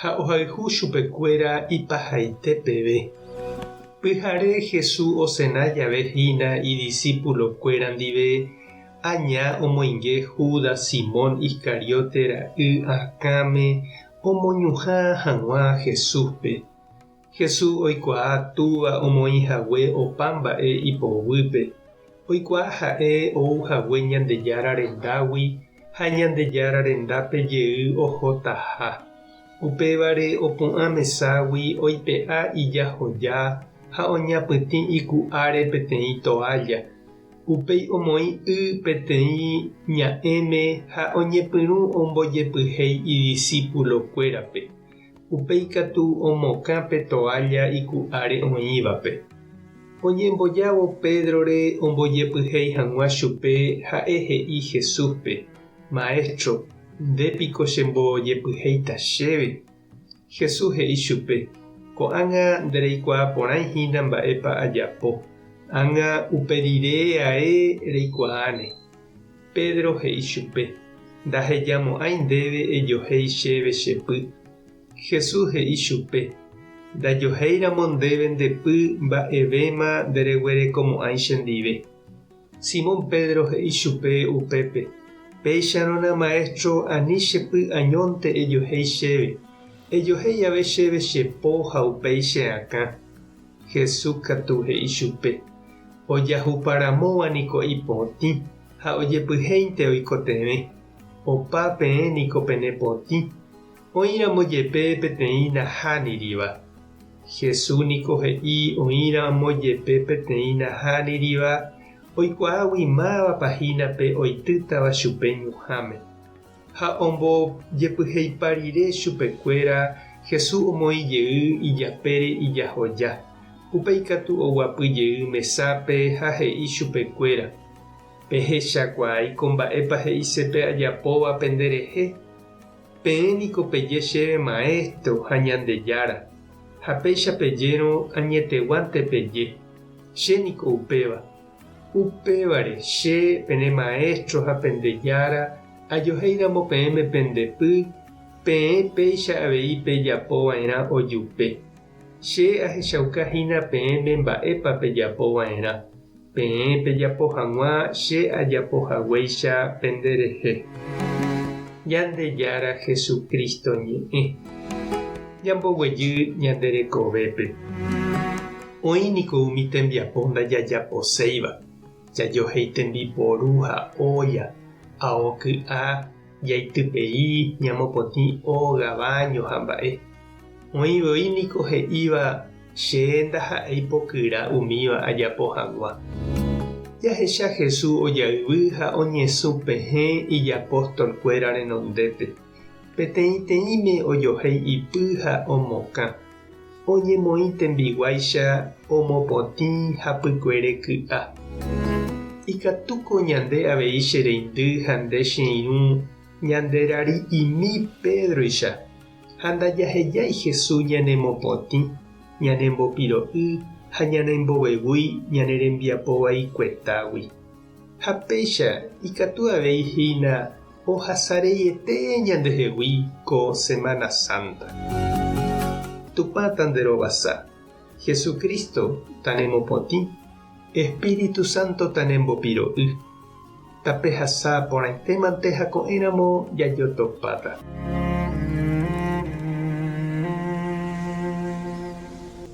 ha ohayhu chupekuéra ipahaite peve. Pyhare Hesu osena jave hína idisipulokuéra ndive, aña omoinge Júdas Simón Iscariote ra'y akãme omoñuhã hag̃ua Jesúspe. Jesús oikuaa Túva omoĩ hague opa mba'e ipoguýpe. Oikuaa ha'e ou hague Ñandejára rendágui ha Ñandejára rendápe jey ohotaha. Upévare opu'ã meságui oipe'a ijahoja ha oñapytĩ iku'áre peteĩ toálla. Upéi omoĩ y peteĩ ña'ẽme ha oñepyrũ ombojepyhéi idisípulokuérape. Upe ikatu omokã pe toalla iku'áre oĩvape. Oñembojávo Pédrore ombojepyhéi hag̃ua chupe, ha'e he'i Jesúspe, Maestro, nde piko chembojepyhéita chéve? Jesús he'i chupe, Ko'ág̃a ndereikuaa porãi hína mba'épa ajapo, ág̃a upe rire ae reikuaáne. Pedro he'i chupe, Ndahejamo'ãi ndéve ejohéi chéve che py. Jesús he'i chupe, Ndajohéiramo ndéve nde py mba'evéma ndereguerekomo'ãi chendive. Simón Pedro he'i chupe upépe, Péicharõna Maestro ani che py añónte ejohéi chéve, ejohéi jave chéve che po ha upéi che akã. Jesús katu he'i chupe, Ojahupa ramóva niko ipotĩ ha ojepyhéinte oikotevẽ. Opa peẽ niko pene potĩ, oĩramo jepe peteĩ nahániriva. Jesús niko he'i oĩramo jepe peteĩ nahániriva oikuaágui mávapa hína pe oitýtava chupe ñuhãme. ha ombojepyheipa rire chupekuéra, Jesús omoĩ jey ijapére ijahoja. Upéi katu oguapy jey mesápe ha he'i chupekuéra, Pehechakuaái ko mba'épa he'ise pe ajapóva pende rehe. Peẽ niko peje chéve Maestro ha Ñandejára, ha péicha pejérõ añeteguánte peje, Che niko upéva. Upévare, che, pene maéstro ha pende jára, ajohéiramo peẽme pende py, peẽ péicha avei pejapo va'erã ojupe. Che ahechauka hína peẽme mba'épa pejapo va'erã, peẽ pejapo hag̃ua che ajapo haguéicha pende rehe. Ñandejára Jesucristo Ñe'ẽ. Ñamboguejy ñande rekovépe. Oĩ niko umi tembiapo ndajajaposéiva, jajohéi tembiporu ha ólla, ao ky'a, jaitypei, ñamopotĩ óga, báño ha mba'e. Oĩ voi niko he'íva che ndaha'éi pokyra umíva ajapo hag̃ua. Jahecha Jesús ojayvy ha oñesũ pehẽ ijapóstolkuéra renondépe, peteĩteĩme ojohéi ipy ha omokã. oñemoĩ tembiguáicha omopotĩ hapykuere ky'a. Ikatúko ñande avei che reindy ha nde che irũ ñanderari'imi Pédroicha, ha ndajahejái Jesús ñanemopotĩ, ñanembopiro'y ha ñanembovevúi ñane rembiapo vaikuetágui. Ha péicha ikatu avei hína ohasareiete ñandehegui ko Semana Sánta. Tupã tanderovasa, Jesucristo tanemopotĩ, Espíritu Santo tanembopiro'y. Tapehasa porãitémante ha ko'ẽramo jajotopáta.